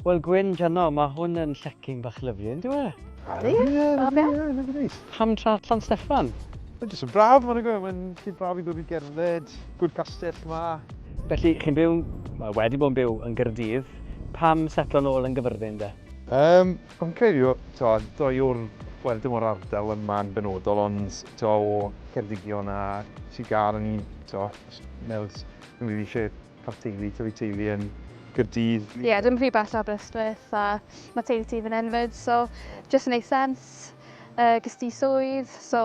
Wel Gwyn, Jano, mae hwn yn llecyn bach lyflu, yn dwi e? Ie, ie, Pam tra Llan Steffan? Mae'n jyst yn braf, mae'n gwybod, mae'n lle braf i ddod i gerdded, gwrdd castell yma. Felly, chi'n byw, mae wedi bod yn byw yn Gyrdydd, pam setlo'n ôl yn gyfyrddin de? Um, Fi'n credu t'od dwy yw'r wel dim o'r ardal yma yn benodol ond t'o' o Ceredigion a Sir Gâr o'n i'n t'o' jyst meddwl s- fi'n rili isie ca'l teulu tyfu teulu yn Caerdydd. Ie dim rhy bell o Aberystwyth a ma' teulu ti fyn 'yn 'fyd so jyst yn neud sense. Yy ges ti swydd so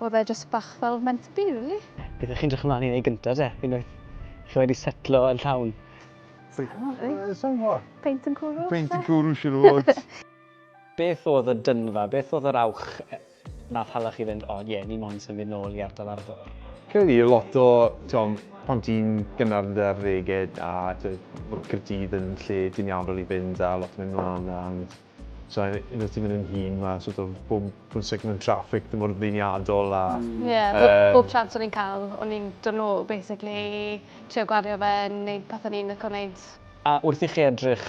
o'dd e jyst bach fel meant to be rili. Beth 'ych chi'n 'drych ymlan i neud gynta te unwaith chi wedi setlo yn llawn? Peint yn cwrw? Peint yn cwrw siwr o fod. Beth oedd y dynfa, beth oedd yr awch nath hala chi fynd, o ie, ni moyn symud nôl i ardal Arfor? Credu y lot o, t'mo', pan ti'n gynnar yn dy arddege a t'mo' ma' Caerdydd yn lle ti'n iawn rili i fynd a lot o mynd mlan a So un o ti mynd yn hun ma sort of bob bob second mewn traffic ddim mor ddeniadol a... Ie bob bob chance o'n i'n ca'l o'n i'n dod nôl basically trio gwario fe neud pethe o'n i'n lico neud. A wrth i chi edrych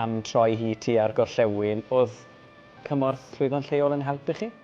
am troi hi tua'r gorllewin, o'dd cymorth llwyddon lleol yn helpu chi?